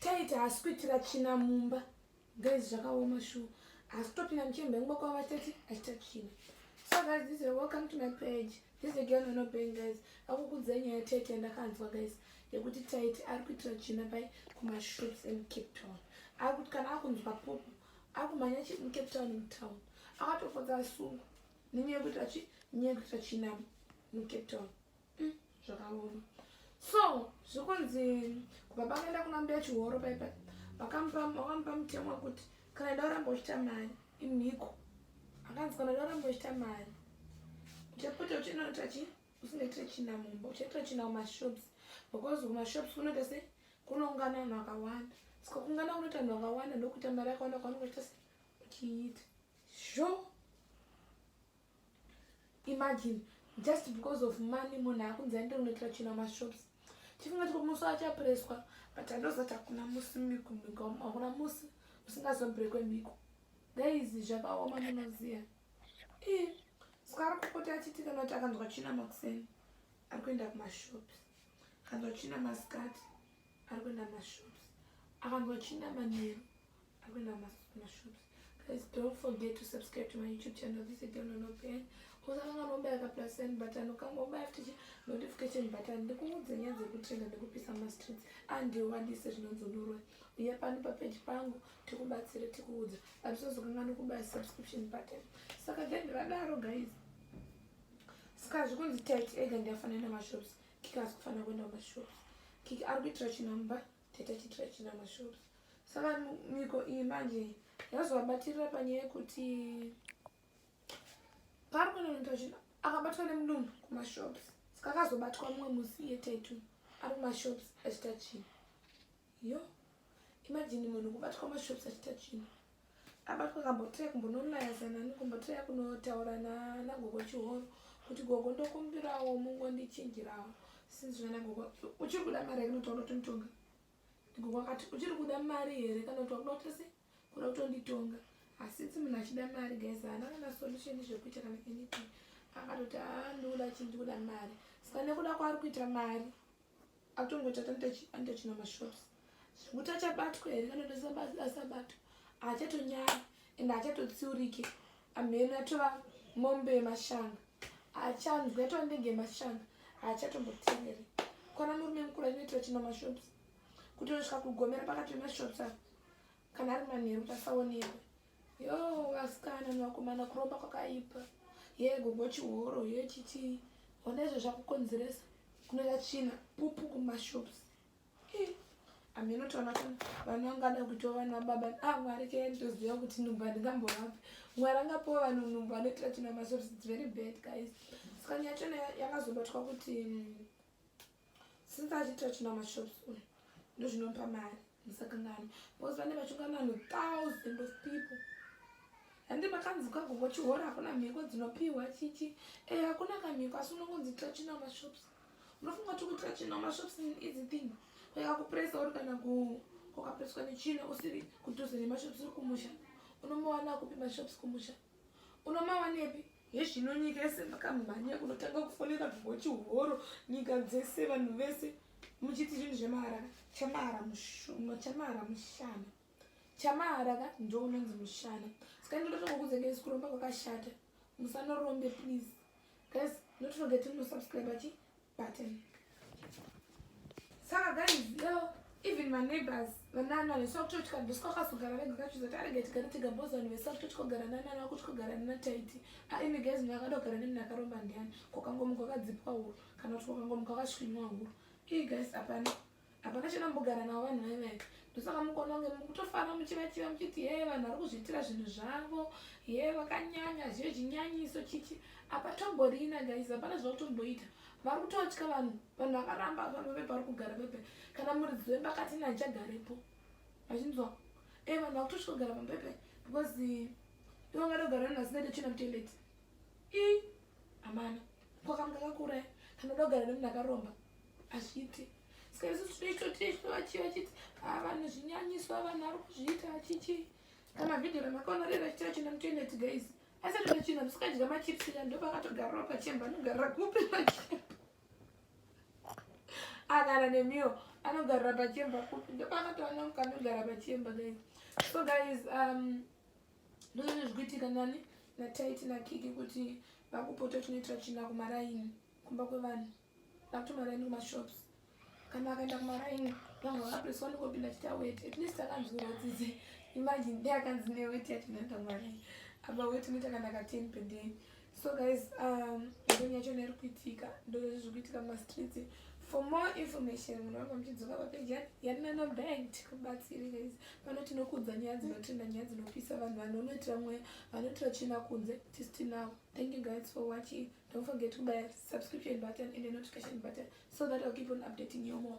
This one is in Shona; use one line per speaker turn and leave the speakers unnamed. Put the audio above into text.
taita hasi kuitira tsvina mumba guys zvakaoma shuwa hasi topinda muchemba ingwa kwava tati achita tsvina so guys this is welcome to my page this again ono ben guys akukudza nyaya taita ndakanzwa guys yekuti taiti ari kuitira tsvina pai kumashops in cape town ari kuti kana akunzwa popo akumhanya chi in cape town mutown akatofodza asungu nenyaya yekuti achi nyaya yekuti achina mucape town mm, zvakaoma so zvikunzi kubaba akaenda kuna mbuya chihoro paipa vakamupa mutemo wekuti kana ida uramba uchita mari imhiko akanzi kana ida uramba uchita mari uchapota uchinoita chi usingaitire china mumba uchaitira china kumashops because kumashops kunoita se kunoungana vanhu vakawanda ska kuungana kunoita vanhu vakawanda ndokuita mari yakawanda kwaunenge uchita se uchiita sure imagine just because of money munhu akunzi aende kunoitira china mashops tifunga tiko musi achapreswa but andozati hakuna musi miko miko hakuna musi musingazobrekwe miko guys zvakaoma munoziva i saka ari kupota achiti kana kuti akanzwa china makuseni ari kuenda kumashops akanzwa china masikati ari kuenda mashops akanzwa china manheru akuenda mashops guys don't forget to subscribe to my youtube channel this is dono no pain usakanga nobaya ka plus and button ukanga ubaya futichi notification button ndikuudze nyaya dzekutrenda ndikupisa mastreets andiwadise zvinonzonurwa uya pano papeji pangu tikubatsire tikuudza atisazokanga nokubaya subscription button saka then vadaro guys saka zvikunzi tit ega ndiyafanana mashops kiki asikufanira kuenda kumashops kiki ari kuitira chinamba tete chitira china mashura saka miko iyi manje yazovabatirira panyaya yekuti paari kunonoita zvinhu akabatwa nemudumbu kumashops saka akazobatwa mumwe musi iye taitu ari kumashops achita chinhu yo imajini munhu kubatwa mashops achita chinhu abatwa kambotirai kumbonolayasa nani kumbotirai kunotaura nagogo chihoro kuti gogo ndokumbirawo mungondichinjirawo sinzi zvana gogo uchiri kuda mari here kanotaura kutonditonga gogo akati uchiri kuda mari here kana kuti wakuda kuti se kuda kutonditonga asinzi munhu achida mari guys haana kana solution zvekuita kana anything akatoti haa ndikuda chii ndikuda mari saka nekuda kwaari kuita mari atongoita anoita china mashops zvekuti achabatwa here kana kuti asabatwa haachatonyara and haachatotsiurike amhene atova mombe yemashanga haachanzwi atova ndenge yemashanga haachatombotengere kwana murume mukuru anoitira china mashops kuti unosvika kugomera pakati pemashops ava kana ari manheru kuti asaonekwe yo vasikana nevakomana kuromba kwakaipa ye gogo chihoro ye chitii ona izvo zvakukonzeresa kunoita tsvina pupu kumashops ameno toona kana vana vangada kuitwa vana baba a ah, mwari kee nditoziva kuti nhumbu handingambovapi mwari angapiwa vanhu nhumbu anoitira tsvina mashops its very bad guys sikani yachona yakazobatwa kuti mm, since achiita china mashops uyu ndozvinopa mari musakangani because vane vachungana vanhu thousand of people handi makanzika kuvo chihora hakuna mhiko dzinopiwa chichi e eh, hakuna kamhiko asi unongonzi ita china mashops unofunga ti kuita china mashops easy thing kuya kupresa uri kana kukapreswa nechina usiri kudhuze nemashops uri kumusha unombowana kupi mashops kumusha unomawanepi hezvino nyika yese makamhanya kunotanga kufonera bhochi horo nyika dzese vanhu vese muchiti zvinhu zvemahara chamahara mushuma chamahara mushana chamahara ka ndounonzi mushana saka ndinotokukudzengesi kuromba kwakashata musanorombe please Guys, not forget to subscribe achi button. Saka guys, yo even my neighbors vanana vesakutoti kandosi kwakazogara vega kachizoti arege tigare tega bhozi vanhu vesakutoti kogara nanani vakuti kogara nana taiti aimi guys munhu akada kugara nemnhu akaromba ndiani kokangomuka kwakadzipwa huro kana kuti kokangomuka kwakasvinywa huro ii guys hapana hapana chena mbogara navo vanhu vaiva ivi ndosaka mukaona kunge mukutofara muchivachiva muchiti hee vanhu vari kuzviitira zvinhu zvavo hee vakanyanya zviyo chinyanyiso chichi apatomborina gaizi hapana zvavakutomboita vari kutotya vanhu vanhu vakaramba vanhu vave pari kugara pepe kana muridzi wemba kati ina ndichagarepo vachinzwa e vanhu vakutotya kugara papepe because ndovanga ndogara vanhu vasingaite chena mutoileti i amana ko kamu kakakura kanoda kugara nemunhu akaromba azviiti ska isu tinoitotizvo vachii vachiti ah, vanhu zvinyanyiso avanhu ari kuzviita achichii kamavhidhio ramakaonorera chitira china mutoineti guys asi tona china musikadya machips ya ndopakatogarira pachemba anogarira kupi pachemba agara nemiyo anogarira pachemba kupi ndopakatoona mukanogara pachemba guys so guys um, ndozvine zvikuitika nani nataiti nakiki kuti vakupota tinoita tsvina kumaraini kumba kwevanhu vakuti maraini kumashops kana akaenda kumaraini vanga vakapresa wanokopinda chita weti at least akanzwirwa tsitsi imagine dei akanzi neweti yatinoenda kumaraini apa weti unoita kana ka ten per day so guys um ndoni yacho nairi kuitika ndozvezvi zviri kuitika mumastreets for more information munhu vanga muchidzoka papeji yatinana bank tikubatsiri guys pano tinokudza nyaya dzinotrenda nyaya dzinopisa vanhu vanonoitira mweya vanoitira china kunze tisu tinawo thank you guys for watching don't forget to buy subscription button and the notification button so that i'll keep on updating you more